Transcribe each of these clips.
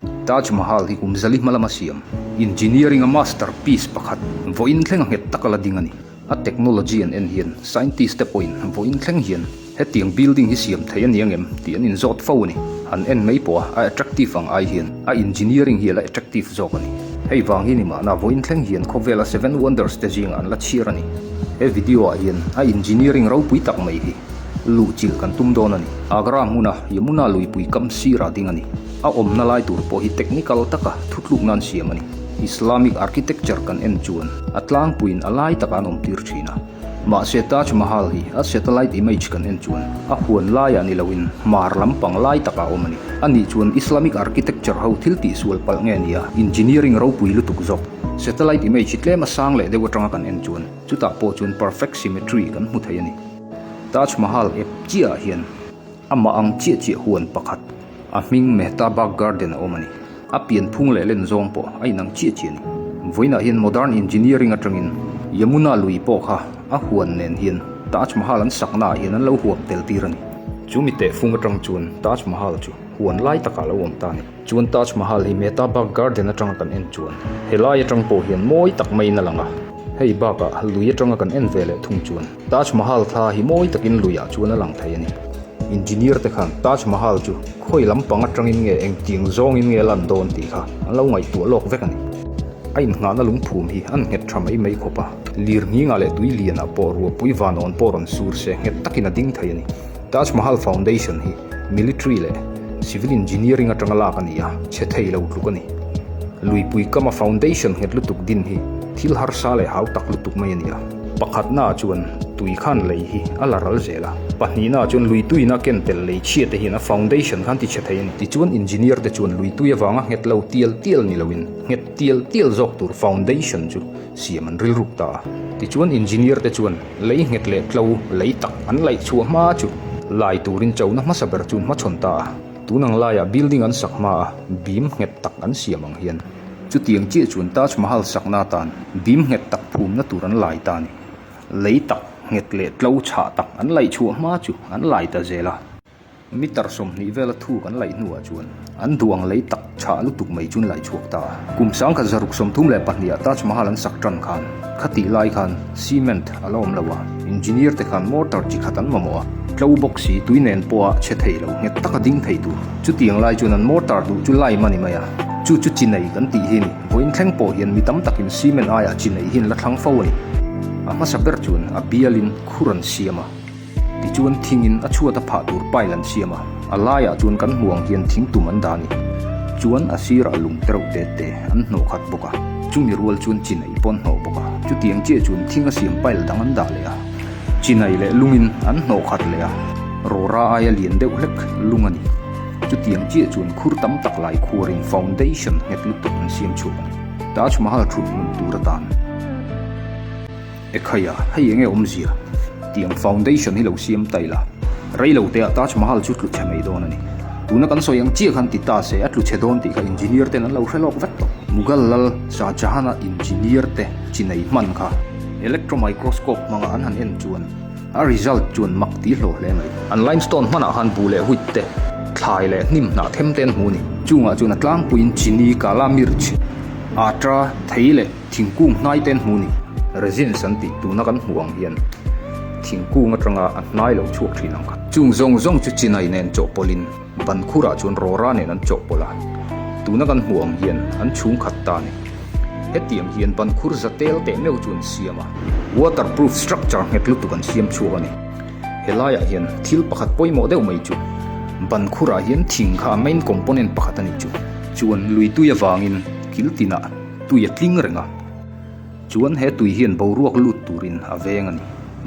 Taj Mahal hi kum zali hma lama siam engineering a master piece pakhat vawiin thleng a nghet taka la ding a ni. A technology an en hian scientist te pawhin vawiin thleng hian hetiang building hi siam thei a ni angem tih an inzawt fo a ni. Han en mai pawha a attractive ang ai hian a engineering hi a la attractive zawk a ni. Hei vang hi ni mahna vawiin thleng hian khawvela seven wonders te zingah an la chhiar a ni. He video ah hian a engineering ropui tak mai hi luhchilh kan tum dawn a ni. Agra hmuna Yamuna luipui kam sirah ding a ni. A awmna lai tur pawh hi technical taka thutlukna an siam a ni. Islamic architecture kan en chuan a tlangpuiin a lai takah an awmtir thin a. Mahse, Taj Mahal hi a satellite image kan en chuan a huan laiah ni loin hmar lampang lai takah a awm a ni. A nih chuan Islamic architecture ho thil tih sual palh nge nia, engineering ropui lutuk zawk. Satellite image hi tlem a sang leh deuh atanga kan en chuan chutah pawh chuan perfect symmetry kan hmu thei a ni. Taj Mahal ep chiahah hian. Amah ang chiah chiah huan pakhat, a hming Mehtabag Garden a awm a ni. A pian phung leh len zawng pawh a inang chiah chiah a ni. Vawiinah hian modern engineering atangin Yamuna lui pawh kha a huan nen hian Taj Mahal an saknaah hian an lo huap tel tir a ni. Chu mi tehfung atang chuan Taj Mahal chu huan lai takah lo awm ta a ni. Chuan Taj Mahal hi Mehtabag Garden atanga kan en chuan helai atang pawh hian mawi tak maiin a lang a. Hei bakah lui atanga kan en ve leh thung chuan Taj Mahal thla hi mawi takin lui ah chuan a lang thei a ni. Engineer te khan Taj Mahal chu khawi lam pang atangin nge engtiang zawngin nge a lan dawn tih kha an lo ngaihtuah lawk vek a ni. A inngahna lungphum hi an nghet tha mai mai khawp a, lir nghingah leh tui lian ah pawh ruahpui vanawn pawh rawn sur se nghet takin a ding thei a ni. Taj Mahal foundation hi military leh civil engineering atanga lak a ni a, chhe thei lo tluk a ni. Luipui kama foundation nghet lutuk din hi thil harsa leh hau tak lutuk mai a ni a. Pakhatnaah chuan tui khan lei hi a la ral zel a, pahnihnah chuan lui tuina ken pel lei chhia te hian a foundation khan ti chhe thei a ni. Tichuan engineer te chuan lui tui avanga nghet lo tial tial ni loin nghet tial tial zawk tur foundation chu siam an rilruk ta a. Tichuan engineer te chuan lei nghet leh tlo lei tak an laih chhuah hma chu lai turin chona hmasa ber chu an hmachhawn ta a. Tun ang laiah building an sak hmaah beam nghet tak an siam ang hian. Chutiang chiah chuan Taj Mahal sakna atan bim nghet tak phumna tur an lai ta ni. Lei tak nghet leh tlo chhah tak an laih chhuah hma chu an lai ta zel a. Mitar sawmhnih vela thu kan laih hnuah chuan an duang lei tak chhah lutuk mai chu an laih chhuak ta a. Kum sangkhat zaruk sawmthum leh pahnih ah Taj Mahal an sak tan khan khati lai khan cement A la awm lo a, engineer te khan motor chi khat an mamawh a, tlo bawk si, tui nen pawha chhe thei lo nghet taka ding thei tur. Chutiang lai chuan an motor duh chu lime a ni mai a, chu chu chi nei kan tih hi a ni. Vawiin thleng pawh hian mi tam takin cement aiah chi nei hi an la thlang fo a ni. A hmasa ber chuan a bialin khur an siam a. Tichuan thingin a chhuat a phah tur pile an siam a, a laiah chuan kan hmu ang hian thing tum an dah a ni. Chuan a sirah lung te reuh te te an hnawh khat bawk a, chumi rual chuan chinai pawh an hnawh bawk a, chutiang chiah chuan thing a siam pile dang an dah leh a, chinai leh lungin an hnawh khat leh a, rawra aia lian deuh hlek lung a ni. Chutiang chiah chuan khur tam tak lai khuarin foundation nghet lutuk an siam chhuak a ni, Taj Mahal thut hmun tur atan. Ekhai a, hei enge awmzia? tih ang foundation hi lo siam ta ila, reilo te ah Taj Mahal chu tluchhe mai dawn a ni. Tuna kan sawi ang chiah khan ti ta se, a tluchhe dawn tih kha engineer ten an lo hre lawk vek tawh. Mughal lal Shah Jahan a engineer te chinai hman kha electro microscope hmanga an han en chuan a result chuan mak ti hlawh hle mai. An limestone hman ah khan bu leh huit te, thlai leh hnim hnah them te an hmu a ni. Chungah chuan a tlangpuiin chini, kala mirch, atra, thei leh. Thingkung hnai ten hmu ni, resins an tih tuna kan hmuh ang hian thingkung atanga a hnai lo chhuak thin ang kha. Chung zawng zawng chu chinai nen chawhpawlhin ban khurah chuan rawra nen an chawhpawlh a, tuna kan hmuh ang hian an chhungkhat ta ni. Hetiang hian ban khur za tel teh meuh chu an siam a, waterproof structure nghet lutuk an siam chhuak a ni. He laiah hian thil pakhat pawimawh deuh mai chu, ban khurah hian thing kha a main component pakhat a nih chu. Chuan luitui avangin kiltinah tui a tling reng a, chuan he tui hian boruak lut turin a veng a ni.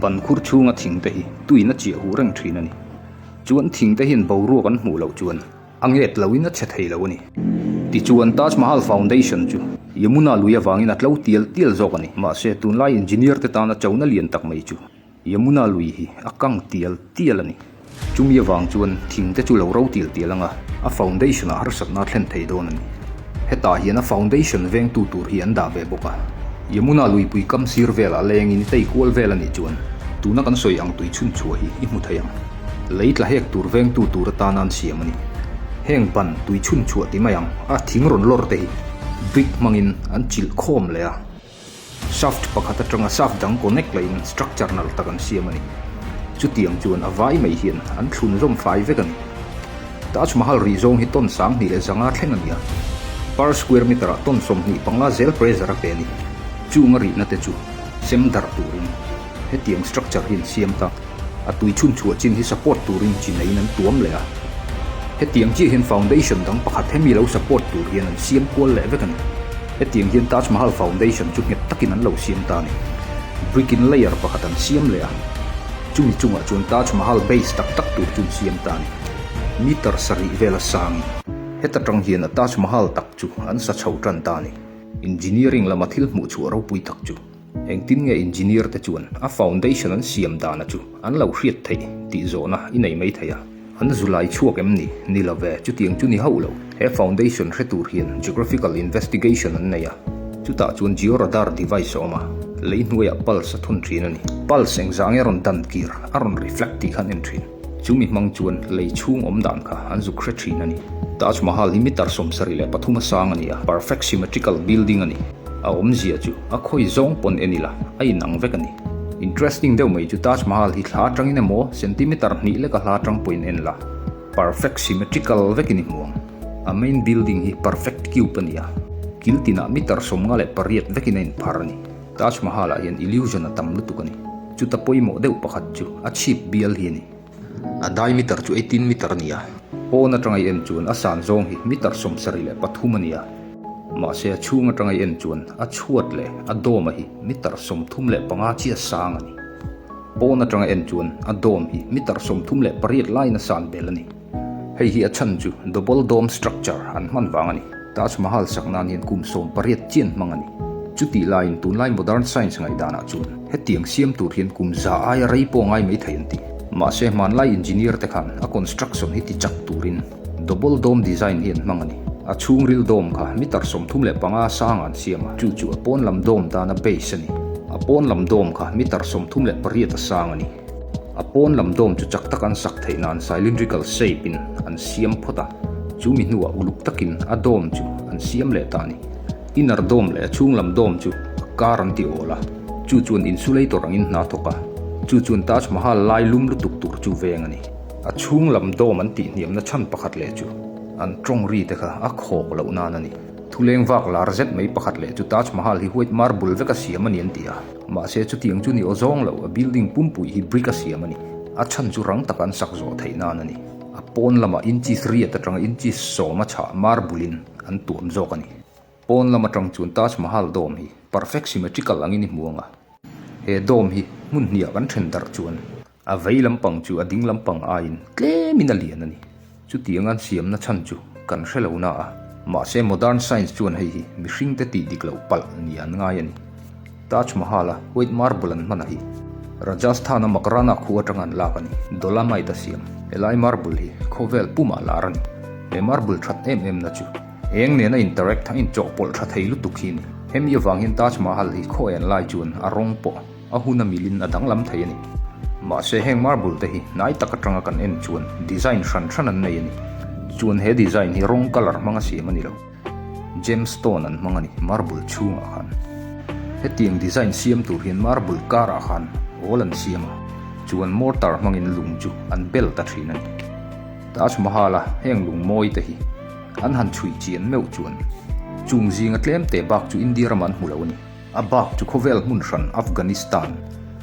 Ban khur chhunga thing te hi tuin a chiah huh reng thin a ni, chuan thing te hian boruak an hmuh loh chuan a nghet loin a chhe thei lo a ni. Tichuan, Taj Mahal Foundation chu Yamuna lui avangin a tlo tial tial zawk a ni. Mahse, tunlai engineer te tana chona lian tak mai chu Yamuna lui hi a kang tial tial a ni. Chumi avang chuan thingte chu lo ro tial tial ang a, a foundation-ah harsatna a thlen thei dawn a ni. Hetah hian a foundation vengtu tur hi an dah ve bawk a. Yamuna lui pui kam sir velah a lengin i tei kual vel a nih chuan tuna kan sawi ang tui chhun chhuah hi i hmu thei ang. Lei tla hek tur vengtu tur atana an siam a ni. Heng ban tui chhun chhuah ti mai ang a thing rawn lawr te hi brick hmangin an chilh khawm leh a. Shaft pakhat atanga shaft dang connect la in structure nalh tak an siam a ni. Chutiang chuan a vai mai hian an thlun zawm fai vek a ni. Taj Mahal rih zawng hi ton sang hnih leh zanga thleng a ni a, per square meter ah ton sawmhnih panga zel pressure a pe a ni. Chunga rihnate chu sem darh turin. Hetiang structure hi an siam ta, a tui chhun chhuah chin hi support turin chi neiin an tuam leh a. Hetiang chiah hian foundation dang pakhat hemi lo support tur hian an siam kual leh vek a ni. Hetiang hian Taj Mahal foundation chu nghet takin an lo siam ta a ni. Brick in layer pakhat an siam leh a, chumi chungah chuan Taj Mahal base tak tak tur chu an siam ta a ni. Meter sarih vel a sangin. Heta tang hian a Taj Mahal tak chu an sa chho tan ta a ni. Engineering lama thil hmuh chhuah ropui tak chu. Engtin nge engineer te chuan a foundation an siam dana chu an lo hriat theih tih zawhna i nei mai thei a, an zulai chhuak em ni? Ni lo ve, chutiang chu ni hauh lo. He foundation hre tur hian geographical investigation an nei a, chutah chuan georadar device a awm a, lei hnuaiah pulse a thun thin a ni. Pulse engzah ange a rawn dan kir, a rawn reflect tih khan en thin. Chu mi hmang chuan lei chhung awm dan kha an zuk hre thin a ni. Taj Mahal hi mitar sawmsarih leh pathum a sang a ni a, perfect symmetrical building a ni. A awmzia chu a khawi zawng pawn en ila a inang vek a ni. Interesting deuh mai chu Taj Mahal hi thla atangin emaw centimeter hnih leka hla atang pawhin en la, perfect symmetrical vekin i hmuang. A main building hi perfect cube a ni a, kil tinah mitar sawmnga leh pariat vekin a inphar a ni. Taj Mahal ah hian illusion a tam lutuk a ni. Chuta pawimawh deuh pakhat chu a chhip bial hi a ni. A diameter chu eighteen meter a ni a. Pawn atangai en chuan a san zawng hi meter sawmsarih leh pathum a ni a. Mahse a chhung atangai en chuan a chhuat leh a dome-a hi meter sawmthum leh panga chiah sang a ni. Pawn atangai en chuan a dome hi meter sawmthum leh pariat laina san bel a ni. Hei hi a chhan chu double dome structure an hman vang a ni. Taj Mahal sak nan hian kum sawm pariat chian hmang a ni. Chutih laiin tunlai modern science ngaihdana chuan hetiang siam tur hian kum za aia rei pawh a ngai mai thei an ti. Mahse hmanlai engineer te khan a construction hi ti chak turin double dome design hi an hmang a ni. A chhungril dome kha mitar sawmthum leh panga sanga an siam a, chu chu a pawnlam dome dana base a ni. A pawnlam dome kha mitar sawmthum leh pariat a sang a ni. A pawn lam dawm chu chak tak an sak theihna an cylindrical shape in an siam phawt a, chu mi hnua uluk takin a dawm chu an siam leh ta a ni. Inner dawm leh a chhung lam dawm chu kar an ti awl a, chu chuan insulator ang in hna thawk a, chu chuan Taj Mahal lai lum lutuk tur chu veng a ni. A chhung lam dawm an tih hniamna chhan pakhat leh chu an tawng ri te kha a khawk loh nan a ni. Thuleng vak lar zet mai pakhat leh chu Taj Mahal hi white marble vek a siam a ni an ti a. Mahse, chutiang chu ni aw zawng lo. A building pumpui hi brick a siam a ni. A chhan chu rang taka an sak zawh theih nan a ni. A pawn lamah inches riat atanga inches sawm a chhah marble in an tuam zawk a ni. Pawn lam atang chuan Taj Mahal dome hi perfect symmetrical angin i hmuang a. He dome hi hmun hniah kan then darh chuan A vei lampang chu a ding lampang aiin tlemin a lian a ni. Chutianga'n siamna chhan chu kan hre lo na a. Mahse, Modern Science chuan hei hi mihringte tih dik loh palh ni an ngai a ni. Taj Mahal-a white marble an hman a hi. Rajasthan-a Makarana khu atanga an lak a ni. Dolomite a siam helai marble hi khawvel pumah lar a ni. He marble that em emna chu eng nena interact a inchawhpawlh tha thei lutuk hi a ni. Hemi avangin Taj Mahal hi khaw en lai chuan a rawng pawh A hun a milin a danglam thei a ni. Mahse heng marble te hi hnai tak atanga kan en chuan design hran hran an nei a ni. Chuan he design hi rawng colour hmanga siam a ni lo. Gemstone an hmang a ni marble chhungah khan. Hetiang design siam tur hian marble karah khan awl an siam a, chuan mortar hmangin lung chu an bel ta thin a ni. Taj Mahal-a heng lung mawi te hi an han chhui chian meuh chuan chung zinga tlem te bak chu India ramah an hmu lo a ni. A bak chu khawvel hmun hran Afghanistan,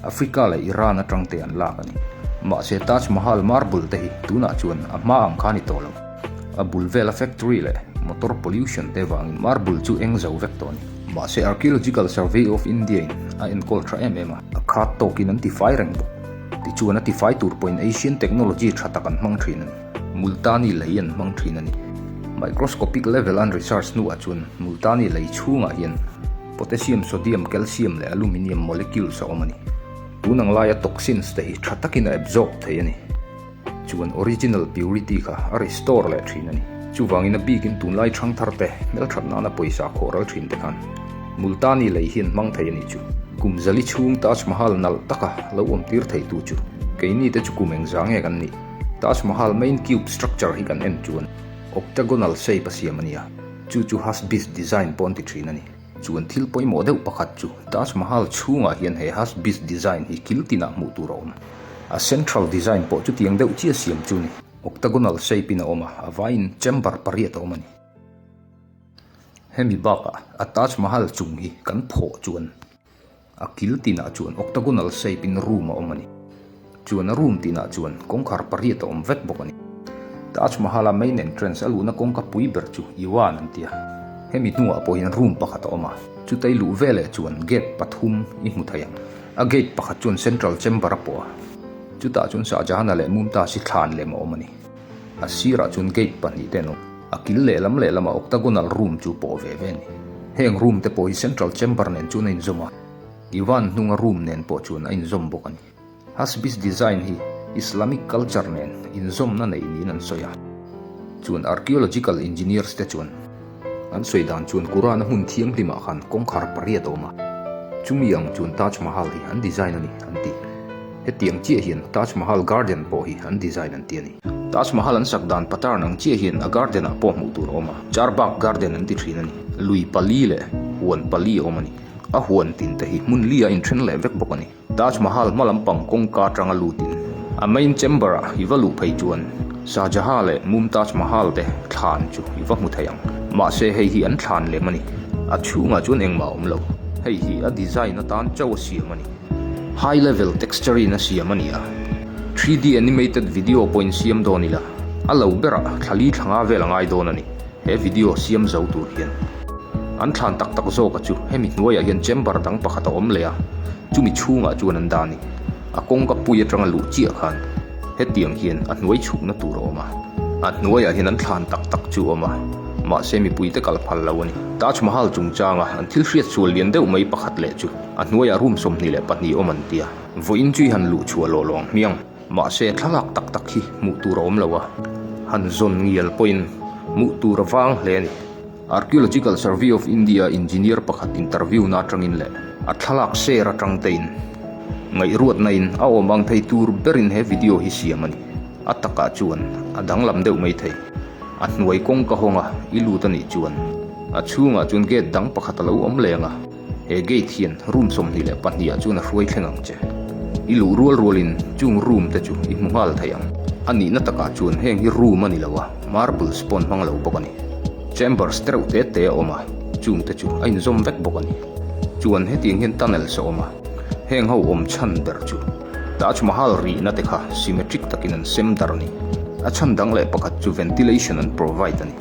Africa leh Iran atangte an lak a ni. Mahse, Taj Mahal marble te hi tunah chuan a hma ang kha a ni tawh lo. A bul vela factory leh motor pollution te vangin marble chu eng zo vek tawh a ni. Mahse, Archaeological Survey of India-in a enkawl tha em em a. A khat tawkin an tifai reng bawk. Tichuan a tifai tur pawhin Asian technology tha tak an hmang thin a ni. Multani lei an hmang thin a ni. Microscopic level an research hnuah chuan Multani lei chhungah hian potassium, sodium, calcium leh aluminium molecules a awm a ni. Tun ang laia toxins te hi tha takin a absorb theih a ni. Chuan original purity kha a restore leh thin a ni. Chuvangin a bikin tunlai thangthar te, hmelthat nana pawisa khawh ral thin te khan Multani lei hian hmang thei a nih chu. Kum zali chhung Taj Mahal nalh taka lo awmtir thei tu chu keini te chu kum engzah nge kan nih? Taj Mahal main cube structure hi kan en chuan octagonal shape a siam a nia, chu chu Hasbi's design pawh an ti thin a ni. Chuan thil pawimawh deuh pakhat chu Taj Mahal chhungah hian he Hasbi's design hi kil tinah hmuh tur a awm. A central design pawh chutiang deuh chiah siam chu a ni, octagonal shape in a awm a, a vaiin chamber pariat a awm a ni. Hemi bakah a Taj Mahal chung hi kan phawh chuan. A kil tinah chuan octagonal shape in room a awm a ni. Chuan a room tinah chuan kawngkhar pariat a awm vek bawk a ni. Taj Mahal a main entrance a luhna kawngka pui ber chu Iwan an ti a. Hemi hnungah pawhin room pakhat a awm a, chutei luh veleh chuan gate pathum i hmu thei a. A gate pakhat chuan central chamber a pawh a, chutah chuan Shahjahana leh Mumtaz-i thlan lem a awm a ni. A sirah chuan gate pahnih te an awm. A kil lehlam lehlamah octagonal room chu pawh ve ve a ni. Heng room te pawh hi central chamber nen chuan a inzawm a. Divan hnunga room nen pawh chuan a inzawm bawk a ni. Hasbis design hi Islamic culture nen inzawmna nei niin an sawi a. Chuan archaeological engineers te chuan. An sawi dan chuan Kurana hmun thianghlim ah khan kawngkhar pariat a awm a, chumi ang chuan Taj Mahal hi an design a ni an ti. Hetiang chiah hian Taj Mahal garden pawh hi an design an ti a ni. Taj Mahal an sak dan pattern ang chiah hian a garden ah pawh hmuh tur a awm a, Charbagh garden an ti thin a ni. Lui pali leh huan pali a awm a ni. A huan tin te hi hmun li a inthen leh vek bawk a ni. Taj Mahal hma lampang kawngka atanga lutin a main chamber ah i va luh phei chuan Shah Jahan leh Mumtaz Mahal te thlan chu i va hmu thei ang. Mahse hei hi an thlan lem a ni. A chhungah chuan engmah a awm lo. Hei hi a design atan chauh a siam a ni. High level texture-in a siam a ni a, three D animated video pawhin siam dawn ila a lo berah thlali thlanga vel a ngai dawn a ni. He video siam zo tur hian an thlan tak tak zawk a chu hemi hnuaiah hian chamber dang pakhat a awm leh a, chumi chhungah chuan an dan in a kawngka pui atanga luh chiah khan hetiang hian a hnuai chhukna tur a awm a. A hnuaiah hian an thlan tak tak chu a awm a, mahse mipui te kal phal lo a ni. Taj Mahal chungchanga an thil hriat sual lian deuh mai pakhat leh chu a hnuaiah room sawmhnih leh pahnih awm an tia vawiin chui han luh chhuah lawh lo ang hmiang. Mahse, thlalak tak tak hi hmuh tur a awm lo a, han zawn ngial pawhin hmuh tur vang hle a ni. Archaeological Survey of India engineer pakhat interview na atangin leh a thlalak share atang te in ngaihruatna in a awm ang thei tur berin he video hi siam a ni. A takah chuan a danglam deuh mai thei. A hnuai kawngka hawnga i lut a nih chuan a chhungah chuan gate dang pakhat a lo awm leng a. He gate hian room sawmhnih leh pahnih ah chuan a hruai thleng ang che. I luh rual rual in chung room te chu i hmu nghal thei ang. A nihna tak ah chuan heng hi room a ni lo a, marbles pawn hmang lo bawk a ni. Chambers te reuh te te a awm a, chung te chu a in zawm vek bawk a ni. Chuan hetiang hian tunnels a awm a, heng ho awm chhan ber chu. Taj Mahal rihna te kha symmetric takin an sem dar a ni. A chhan dang leh pakhat chu ventilation an provide a ni.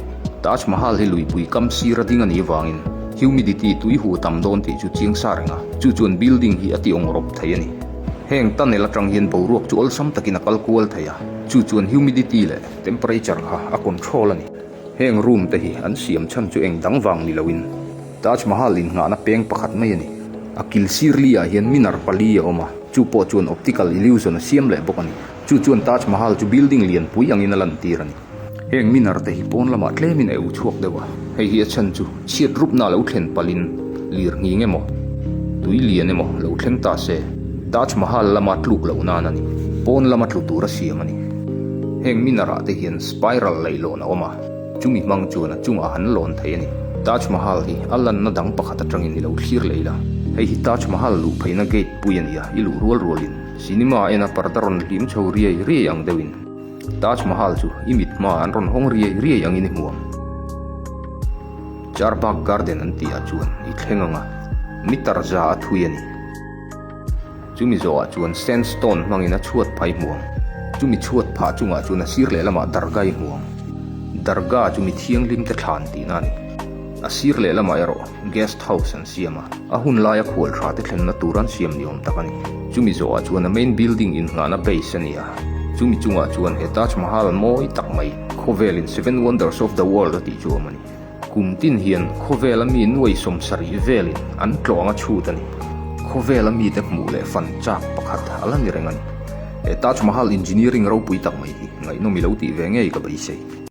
Taj Mahal hi luipui kam sir a ding a nih vangin humidity tui huh tam dawn tih chu chiang sa reng a, chu chuan building hi a ti awng rawp thei a ni. Heng tunnel atang hian boruak chu awlsam takin a kal kual thei a, chu chuan humidity leh temperature kha a control a ni. Heng room te hi an siam chhan chu eng dang vang ni loin Taj Mahal innghahna peng pakhat mai a ni. A kil sir li ah hian minar pali a awm a, chu pawh chuan optical illusion a siam leh bawk a ni. Chu chuan Taj Mahal chu building lianpui angin a lantir a ni. Heng minar te hi pawn lamah tlemin a eu chhuak deuh a, hei hi a chhan chu. Chhiat rupna lo thlen palhin lir nghing emaw, tui lian emaw lo thleng ta se, Taj Mahal lama tluk loh nan a ni. Pawn lama tlu tura siam a ni. Heng Minar-ah te hian spiral laih lawn a awm a, chumi hmang chuan a chungah han lawn thei a ni. Taj Mahal hi a lanna dang pakhat atangin i lo thlir leh ila. Hei hi Taj Mahal luh pheihna gate pui a ni a, i luh rual rualin cinema ena parda rawn hlim chho riai riai ang deuhin. Taj Mahal chu i mit hma an rawn hawng riai riai angin i hmu ang. Charbagh Garden an tih ah chuan i thleng ang a, mitar za a thui a ni. Chumi zawh ah chuan sandstone hmangin a chhuat phai hmu ang. Chumi chhuat phah chungah chuan a sir leh lamah darga i hmu ang. Darga chu mi thianghlim te thlan tihna a ni. A sir leh lamah erawh guest house an siam a, a hun laia khual tha te thlenna tur an siam ni awm tak a ni. Chumi zawhah chuan a main building innghahna base a ni a, chumi chungah chuan he Taj Mahal mawi tak mai khawvelin seven wonders of the world a tih chu a awm a ni. Kum tin hian khawvela mi nuai sawm sarih velin an tlawh anga chhut a ni. Khawvela mite hmuh leh fan chak pakhat a la ni reng a ni. He Taj Mahal engineering ropui tak mai hi ngaihnawm i lo tih ve ngei ka beisei.